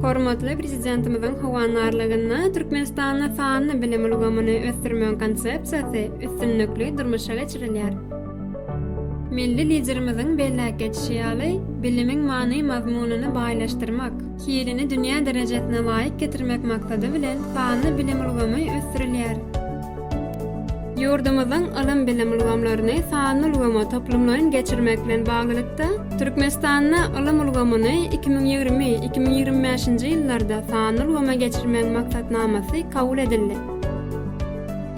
Hormatly Prezidentimiziň howandarlygynda Türkmenistanda sanly bilim ulgamyny ösdürmegiň konsepsiýasy üstünlikli durmuşa geçirilýär. Milli Liderimiziň belläp geçişi ýaly, bilimiň many-mazmunyny baýlaşdyrmak, Hilini dünýä derejesine laýyk getirmek maksady bilen, sanly bilim ulgamy ösdürilýär. Ýurdumyzyň ylym-bilim ulgamlaryny sanly ulgama toplumlaýyn geçirmek bilen baglylykda, Türkmenistanda ylym ulgamyny iki müň ýigrimi, iki müň ýigrimi bäşinji ýyllarda sanly ulgama geçirmegiň maksatnamasy kabul edildi.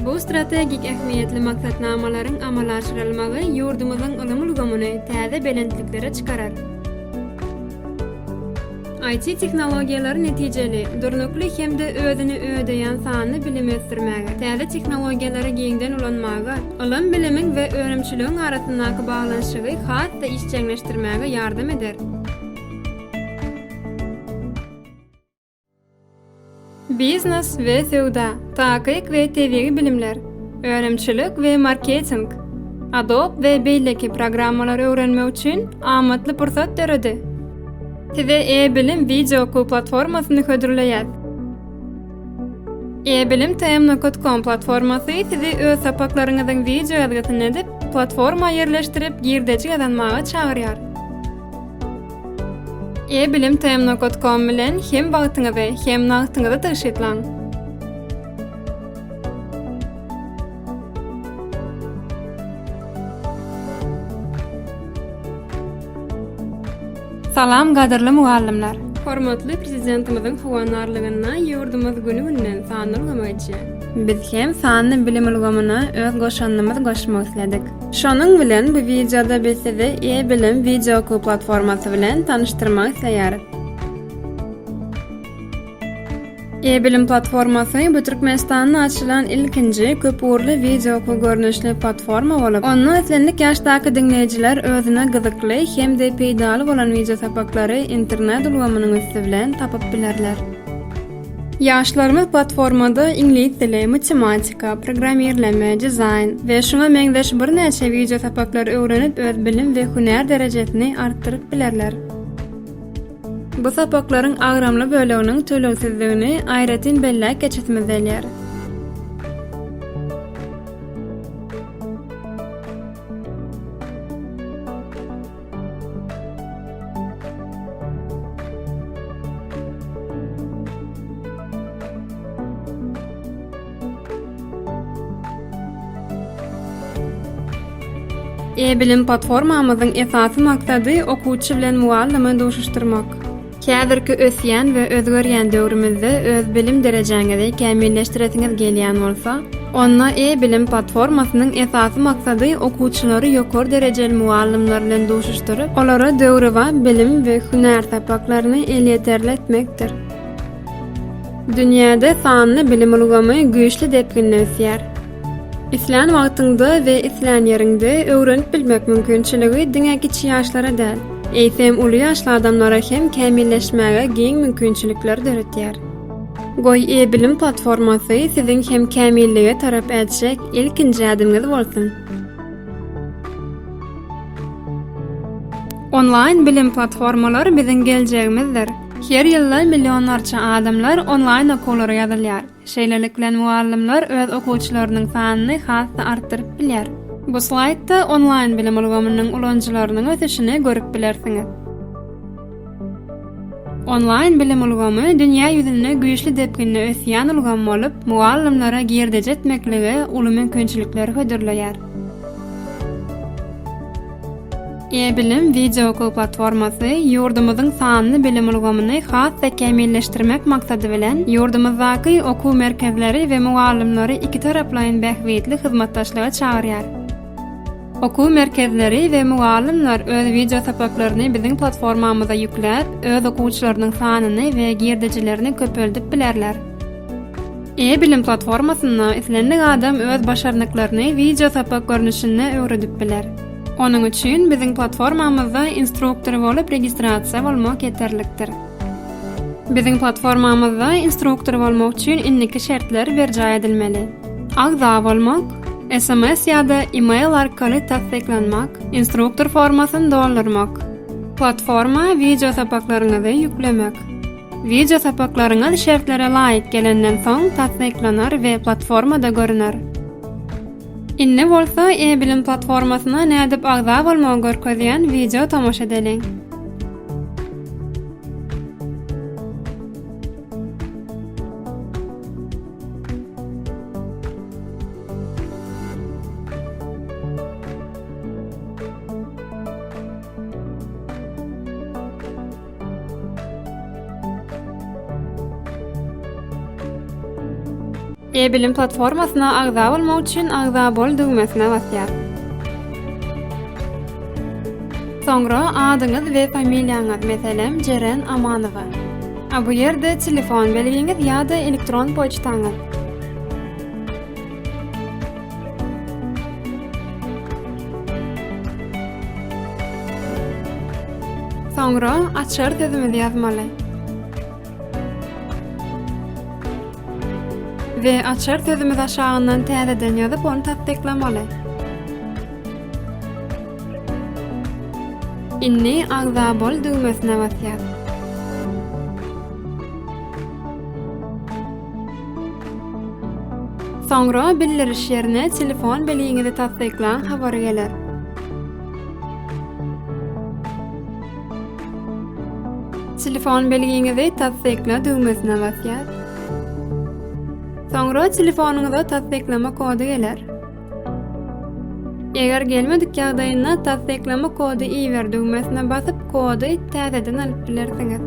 Bu strategik ähmiýetli maksatnamalaryň amala aşyrylmagy ýurdumyzyň ylym ulgamyny täze belentliklere çykarar. IT tehnologiýalary netijeli, durnukly hem-de özüni ödeýän sanly bilimi ösdürmäge, täze tehnologiýalary giňden ulanmaga, ylym-bilimiň we önümçiligiň arasyndaky baglanyşygy has-da işjeňleşdirmäge ýardam eder. Biznes we söwda, takyk we tebigy bilimler, önümçilik we marketing, Adobe we beýleki programmalary öwrenmek üçin amatly pursat döredi. Size e-bilim wideo okuw platformasyny hödürleýär. E-bilim tm.com platformasy sizi öz sapaklaryňyzyň wideo ýazgysyny edip, platforma ýerleşdirip girdeji gazanmaga çagyrýar. E-bilim TMNOR.com bilen hem wagtyňyzy, hem nagtyňyzy tygşytlaň! Salam gadyrly mugallymlar! Hormatly Prezidentimiziň howandarlygynda ýurdumyz güni-günden sanly ulgama geçýär. Biz hem sanly bilim ulgamyna öz goşandymyzy goşmak isledik. Şonuň bilen bu wideoda biz sizi e-bilim wideookly platformasy bilen tanyşdyrmak isleýäris. E-bilim platformasy bu Türkmenistanda açylan ilkinji köp ugurly wideookly görnüşli platforma bolup, onda islendik ýaşdaky diňleýjiler özüne gyzykly hem-de peýdaly bolan wideosapaklary internet ulgamynyň üsti bilen tapyp bilerler. Ýaşlarymyz platformada iňlis dili, matematika, programmirleme, dizaýn we şuňa meňzeş birnäçe wideo sapaklary öwrenip öz bilim we hünär derejesini artdyryp bilerler. Bu sapaklaryň agramly böleginiň tölegsizdigini aýratyn belläp geçesimiz gelýär. E-bilim platformamyzyň esasy maksady okuwçy bilen mugallymy duşuşdyrmak. Häzirki ösýän we özgerýän döwrümizde öz bilim derejäňizi kämilleşdiresiňiz gelýän bolsa, onda e-bilim platformasynyň esasy maksady okuwçylary ýokary derejeli mugallymlar bilen duşuşdyryp, olara döwrebap bilim we hünär sapaklaryny elýeterli etmekdir. Dünýäde sanly bilim ulgamy güýçli depginde ösýär. Islän wagtyňda we islän ýeriňde öwrenip bilmek mümkinçiligi diňe kiçi ýaşlara däl, eýsem, uly ýaşly adamlara hem kämilleşmäge giň mümkinçilikler döretýär. Goý, e-bilim platformasy siziň hem kämillige tarap ätjek ilkinji ädimiňiz bolsun! Onlaýn bilim platformalary biziň geljegimizdir. Her ýylda millionlarça adamlar onlaýn okuwlara ýazylýar. Şeýlelikle, mugallymlar öz okuwçylarynyň sanyny has-da artdyryp bilýär. Bu slaýdda onlaýn bilim ulgamynyň ulanyjylarynyň ösüşini görüp bilersiňiz. Onlaýn bilim ulgamy dünýä ýüzünde güýçli depginde ösýän ulgam bolup, mugallymlara girdeji etmeklige uly mümkinçilikleri hödürleýär. E-bilim wideookul platformasy ýurdumyzyň sanly bilim ulgamyny has-da kämilleşdirmek maksady bilen, ýurdumyzdaky okuw merkezleri we mugallymlary ikitaraplaýyn bähbitli hyzmatdaşlyga çagyrýar. Okuw merkezleri we mugallymlar öz wideosapaklaryny biziň platformamyza ýükläp, öz okuwçylarynyň sanyny we girdejilerini köpeldip bilerler. E-bilim platformasynda islendik adam öz başarnyklaryny wideo sapak görnüşinde öwredip biler. Onuň üçin biziň platformamyzda instruktor bolup registrasiýa bolmak ýeterlikdir. Biziň platformamyzda instruktor bolmak üçin indiki şertler berjaý edilmeli. Agza bolmak, sms ýa-da e-mail arkaly tassyklanmak, instruktor formasyny doldurmak, platforma wideo sapaklaryňyzy ýüklemek. Wideo sapaklaryňyz şertlere laýyk gelenden soň tassyklanar we platformada görüner. Indi bolsa e-bilim platformasyna nädip agza bolmagy görkezýän wideo tomaşa edeliň. E-bilim platformasyna agza bolmak üçin Agza bol düwmesine basýar. Soňra adyňyz we familiýaňyz, meselem, Jeren Amanowa. A bu ýerde telefon belgiňiz ýa-da elektron poçtaňyz. Soňra açar sözümizi ýazmaly. We açar sözümizi aşagyndan täzeden ýazyp, ony tassyklamaly. Indi agza bol düwmesine basýas. Soňra bildiriş ýerine telefon belgiňizi tassyklan habar geler. Telefon belgiňizi tassykla düwmesine basýas. Soňra telefonyňyza tassyklama kody geler. Eger gelmedik ýagdaýynda tassyklama kody iber düwmesine basyp, kody täzeden alyp bilersiňiz.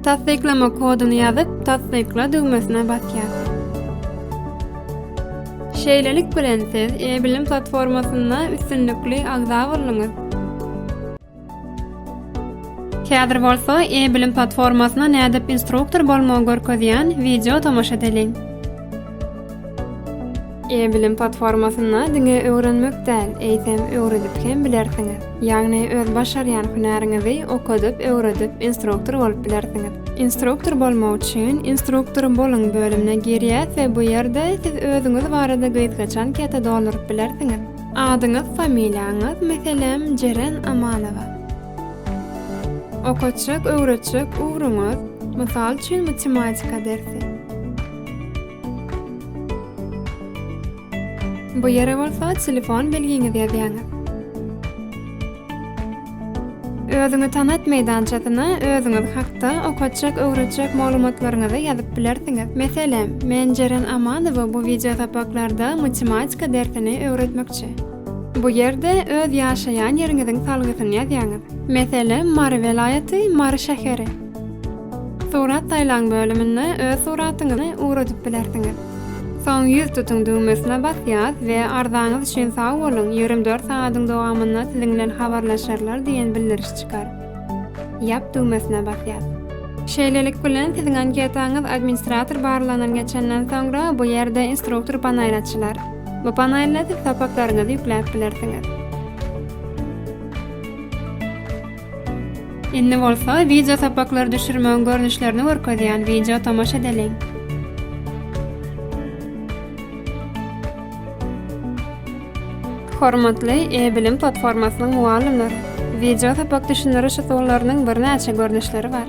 Tassyklama koduny ýazyp, tassykla düwmesine basýas. Şeýlelik bilen siz e-bilim platformasynda üstünlikli agza bolduňyz. Häzir bolsa e-bilim platformasyna nädip instruktor bolmagy görkezýän wideo tomaşa edeliň. E-bilim platformasynda diňe öwrenmek däl, eýsem öwredip hem bilersiňiz. Ýagny öz başarýan hünäriňizi okadyp, öwredip, instruktor bolup bilersiňiz. Instruktor bolmak üçin Instruktor boluň bölümine girýäs we bu ýerde siz özüňiz barada gysgaç anketa dolduryp bilersiňiz. Adyňyz familiýaňyz meselem Jeren Amanowa. Okatjak öwretjek ugruňyz mysal üçin matematika dersi. Bu ýere bolsa telefon belgiňizi ýazýaňyz. Özüňi tanat meýdançasyna özüňiz hakda okatjak, öwretjek maglumatlaryňyzy ýazyp bilersiňiz. Meselem, Men Jeren Amanowa bu wideo sapaklarda matematika dersini öwretmekçi. Bu ýerde öz ýaşaýan ýeriňiziň salgysyny ýazýaňyz. Meselem, Mary welaýaty, Mary şäheri. Surat saýlaň bölüminde öz suratyňyzy ugradyp bilersiňiz. Soň ýüz tutuň düwmesine basýas we arzaňyz üçin sag boluň, ýigrimi dört sagadyň dowamynda siziň bilen habarlaşarlar diýen bildiriş çykar. Ýap düwmesine basýas. Şeýlelik bilen, siziň anketaňyz administrator barlagyndan geçenden soňra, bu ýerde Instruktor panaýy açylar. Bu panaýda siz sapaklaryňyzy ýükläp bilersiňiz. Indi bolsa wideo sapaklary düşürmegiň görnüşlerini görkezýän wideo tomaşa edeliň. Hormatly e-bilim platformasynyň mugallymlary, wideo sapak düşündiriş usullarynyň birnäçe görnüşleri bar.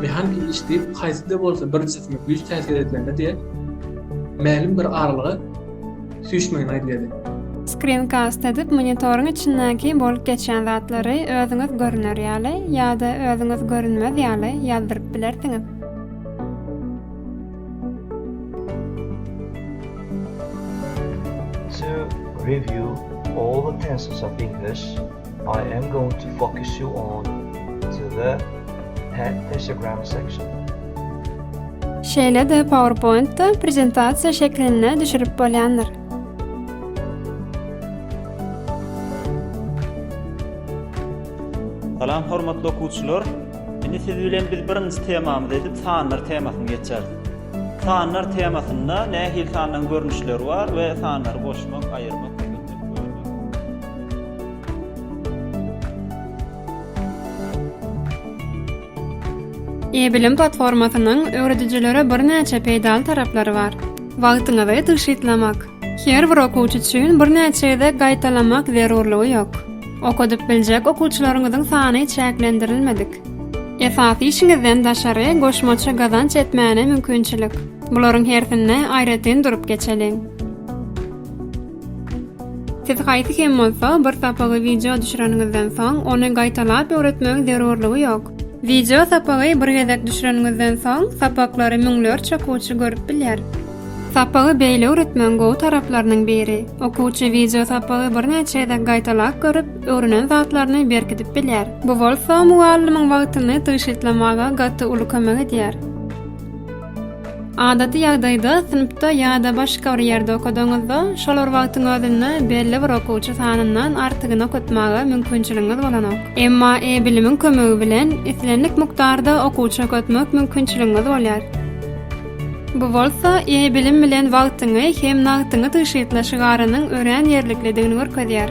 Mehaniki iş diýip haýsy-da bolsa bir jisme güýç täsir edilende diýen mälim bir aralyga süýşmegini aýdýardy. Screencast edip monitoryň içindäki bolup geçýän zatlary özüňiz görüner ýaly ýa-da özüňiz görünmez ýaly ýazdyryp bilersiňiz. To review all the tenses of English. I am going to focus you on to the pad pictogram section. Şeýle-de PowerPoint-da prezentasiýa şeklinde düşürip bolýandyr. Salam hormatly okuwçylar. Indi siz bilen biz birinji temamyz edip sanlar temasyny geçeris. Sanlar temasynda nähili sanlaryň görnüşleri bar we sanlary goşmak, aýyrmak E-bilim platformasynyň öwredijilere birnäçe peýdaly taraplary bar. Wagtyňyzy tygşytlamak. Her bir okuwçy üçin birnäçe gezek gaýtalamak zerurlygy ýok. Okadyp biljek okuwçylaryňyzyň sany çäklendirilmedik. Esasy işiňizden daşary goşmaça gazanç etmäne mümkinçilik. Bularyň hersine aýratyn durup geçeliň. Siz haýsy hem bolsa bir sapagy wideo düşüreniňizden soň, ony gaýtalap öwretmegiň zerurlygy ýok. Wideo sapagy bir gezek düşüreniňizden soň, sapaklary müňlerçe okuwçy görüp bilýär. Sapagy beýle öwretmegiň gowy taraplarynyň biri, okuwçy wideo sapagy birnäçe gezek gaýtalap görüp, öwrenen zatlaryny berkidip bilýär. Bu bolsa mugallymyň wagtyny tygşytlamaga gaty uly kömek edýär. Adaty ýagdaýda synpda ýa-da başga bir ýerde okadaňyzda, şol bir wagtyň özünde belli bir okuwçy sanyndan artygyny okatmaga mümkinçiligiňiz bolanok. Emma e-bilimiň kömegi bilen islendik mukdarda okuwçy okatmak mümkinçiligiňiz bolýar. Bu bolsa e-bilim bilen wagtyňy hem nagtyňy tygşytla şygarynyň örän ýerliklidigini görkezýär.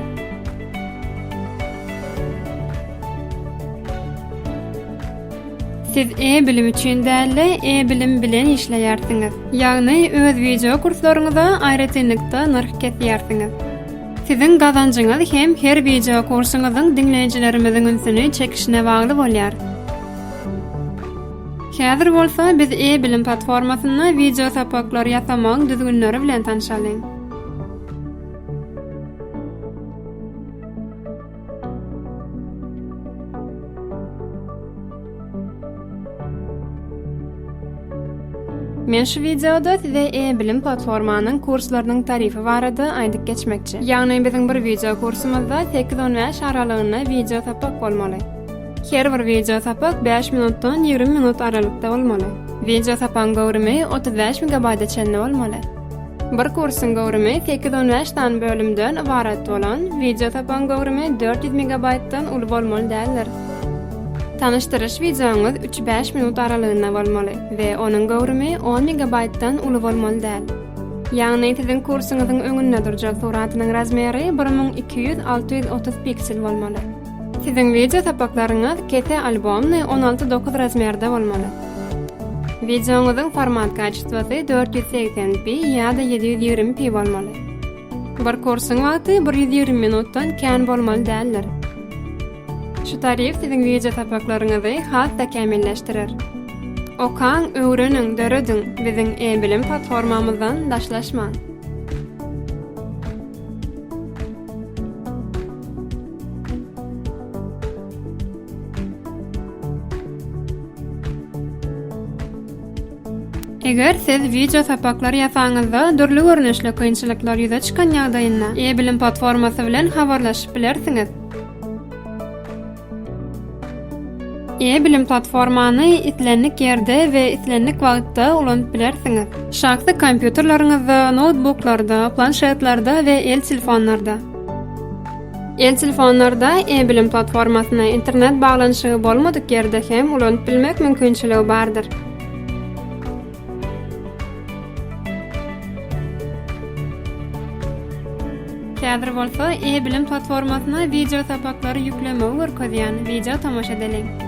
Siz e-bilim üçin däl-de, e-bilim bilen işleýärsiňiz. Ýagny, öz wideo kurslaryňyza aýratynlykda nyrh kesýärsiňiz. Siziň gazanjyňyz hem her wideo kursuňyzyň diňleýjilerimiziň ünsüni çekişine bagly bolýar. Häzir bolsa biz e-bilim platformasynda wideo sapaklary ýasamagyň düzgünleri bilen tanşalyň. Men şu wideoda size e-bilim platformanyň kurslarynyň tarify barada aýdyp geçmekçi. Ýagny biziň bir wideo kursumyzda 8-15 aralygynda wideo sapak bolmaly. Her bir wideo sapak 5 minutdan 20 minut aralykda bolmaly. Wideo sapagyň göwrümi 35 MB-a çenli bolmaly. Bir kursyň göwrümi sekiz on bäş sany bölümden ybarat bolan wideosapagyň göwrümi dört ýüz megabaýtdan uly bolmaly däldir. Tanyşdyryş wideoňyz üç bäş minut aralygynda bolmaly we onuň göwrümi on megabaýtdan uly bolmaly däl. Ýagny siziň kursyňyzyň öňünde durjak suratynyň razmeri bir müň iki ýüz alty ýüz otuz piksel bolmaly. Siziň wideo sapaklaryňyz kese albomny on alty dokuz razmerde bolmaly. Wideoňyzyň format kaçistwasy dört ýüz segsen pi ýa-da ýedi ýüz ýigrimi pi bolmaly. Bir kursyň wagty bir ýüz ýigrimi minutdan kän bolmaly däldir. Şu tarif siziň wideo sapaklaryňyzy has-da kämilleşdirer. Okaň, öwreniň, dörediň, biziň e-bilim platformamyzdan daşlaşmaň! Eger siz wideo sapaklary ýasaňyzda, dürli görnüşli kynçylyklar ýüze çykan ýagdaýynda, e-bilim platformasy bilen habarlaşyp bilersiňiz. E-bilim platformany islendik ýerde we islendik wagtda ulanyp bilersiňiz. Şahsy kompýuterleriňizde, noutbuklarda, planşetlerde we el telefonlarda. El telefonlarda e-bilim platformasyna internet baglanyşygy bolmadyk ýerde hem ulanyp bilmek mümkinçiligi bardyr. Häzir bolsa e-bilim platformasyna wideo sapaklary ýüklemegi görkezýän wideo tomaşa edeliň.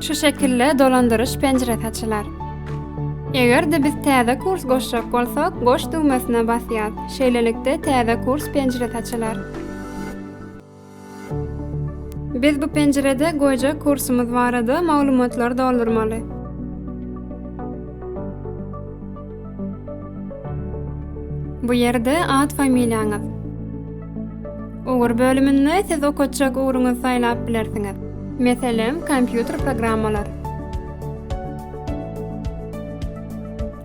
Şu şekilde dolandyryş penjiresi açylar. Eger-de biz täze kurs goşjak bolsak, goş düwmesine basýas. Şeýlelikde täze kurs penjiresi açylar. Biz bu penjirede goýjak kursumyz barada maglumatlary doldurmaly. Bu ýerde at-familiýaňyz. Ugur bölüminde siz okatjak ugruňyzy saýlap bilersiňiz. Meselem, kompýuter programmalary.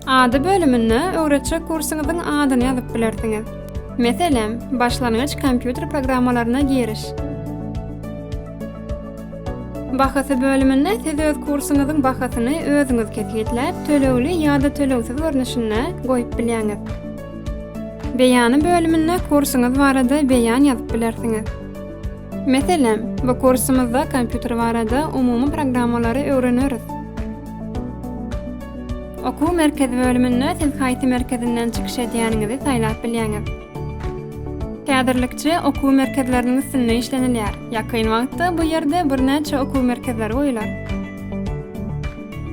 Ady bölüminde öwretjek kursuňyzyň adyny ýazyp bilersiňiz. Meselem, başlangyç kompýuter programmalaryna giriş. Bahasy bölüminde siz öz kursuňyzyň bahasyny özüňiz kesgitläp, tölegli ýa-da tölegsiz görnüşinde goýup bilýäňiz. Beýany bölüminde kursuňyz barada beýan ýazyp bilersiňiz. Meselem, bu kursumyzda kompýuter barada umumy programmalary öwreneris. Okuw merkezi bölüminde siz haýsy merkezinden çykyş edýäniňizi saýlap bilýäňiz. Häzirlikçe okuw merkezleriniň üstünde işlenilýär. Ýakyn wagtda bu ýerde birnäçe okuw merkezleri goýular.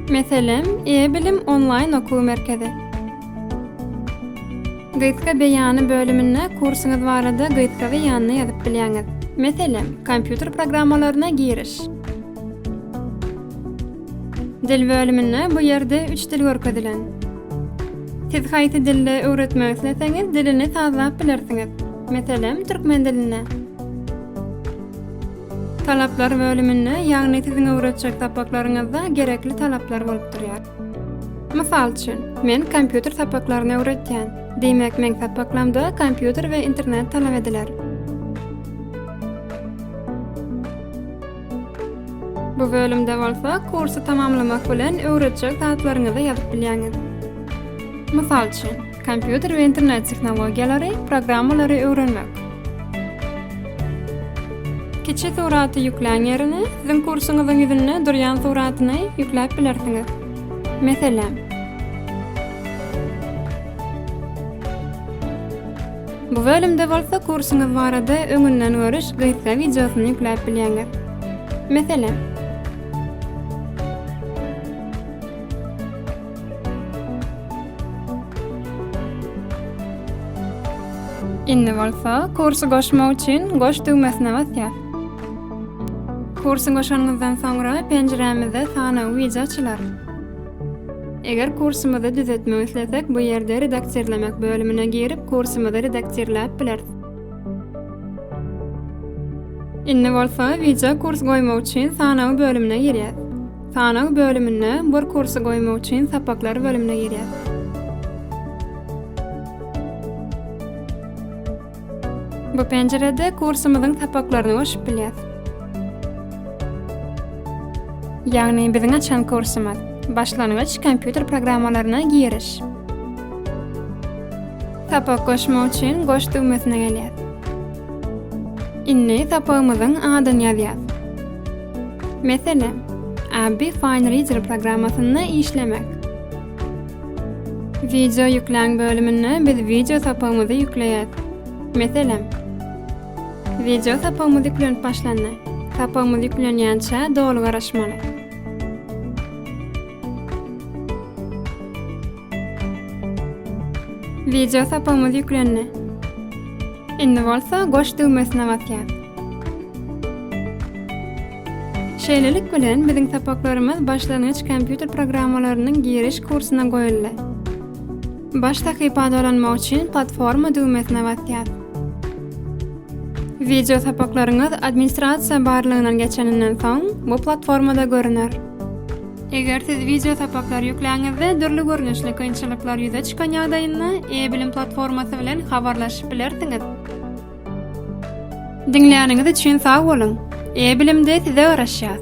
Meselem, E-bilim onlaýn okuw merkezi. Gysga beýany bölüminde kursuňyz barada gysga beýanyny ýazyp bilýäňiz. Meselem, kompýuter programmalaryna giriş. Dil bölüminde bu ýerde üç dil görkezilen. Siz haýsy dilde öwretmek isleseňiz, dilini sazlap bilersiňiz. Meselem, türkmen dilinde. Talaplar bölüminde, ýagny siziň öwretjek sapaklaryňyzda gerekli talaplar bolup durýar. Mysal üçin, men kompýuter sapaklaryny öwretýän. Diýmek, meň sapaklamda kompýuter we internet talap ediler. Bu bölümde bolsa kursy tamamlamak bilen öwredjek zatlaryňyzy ýazyp bilýäňiz. Mysal üçin, Kompýuter we internet tehnologiýalary, programmalary öwrenmek. Kiçi suraty ýükläň ýerine siziň kursuňyzyň ýüzünde durýan suratyny ýükläp bilersiňiz. Meselem. Bu bölümde bolsa kursuňyz barada öňünden görüş gysga wideosyny ýükläp bilýäňiz. Meselem. Indi bolsa kursy goşmak üçin goş düwmesine basýas. Kursy goşanyňyzdan soňra penjirämizde sanaw wija açylar. Eger kursymyzy düzetmek islesek, bu ýerde redaktirlemek bölümine girip, kursymyzy redaktirläp bileris. Indi bolsa wija kurs goýmak üçin sanaw bölümine girýäs. Sanag bölüminde bir kursy goýmak üçin sapaklar bölümine girýäs. Bu penjirede kursumyzyň sapaklaryny görşüp bilýäs. Ýagny biziň açan kursumyz. Başlangyç kompýuter programmalaryna giriş. Sapak goşmak üçin goş düwmesine gelýäs. Indi sapagymyzyň adyny ýazýas. Meselem, Abby Fine Reader programmasynda işlemek. Wideo ýükläň bölüminde biz wideo sapagymyzy ýükleýäs. Meselem, Wideo sapagymyz ýüklenip başlandy. Sapagymyz ýüklenýänçä doly garaşmaly. Wideo sapamyz ýüklendi. Indi bolsa goş düwmesine basýas. Şeýlelik bilen biziň sapaklarymyz başlangyç kompýuter programmalarynyň giriş kursuna goýuldy. Baş sahypa dolanmak üçin platforma düwmesine basýas. Wideo sapaklaryňyz administrasiýa barlagynyň geçeninden soň bu platformada görüner. Eger siz wideo sapaklary ýükläňizde dürli görnüşli kynçylyklar ýüze çykan ýagdaýynda e-bilim platformasy bilen habarlaşyp bilersiňiz. Diňläniňiz üçin sag boluň! E-bilimde size garaşýas!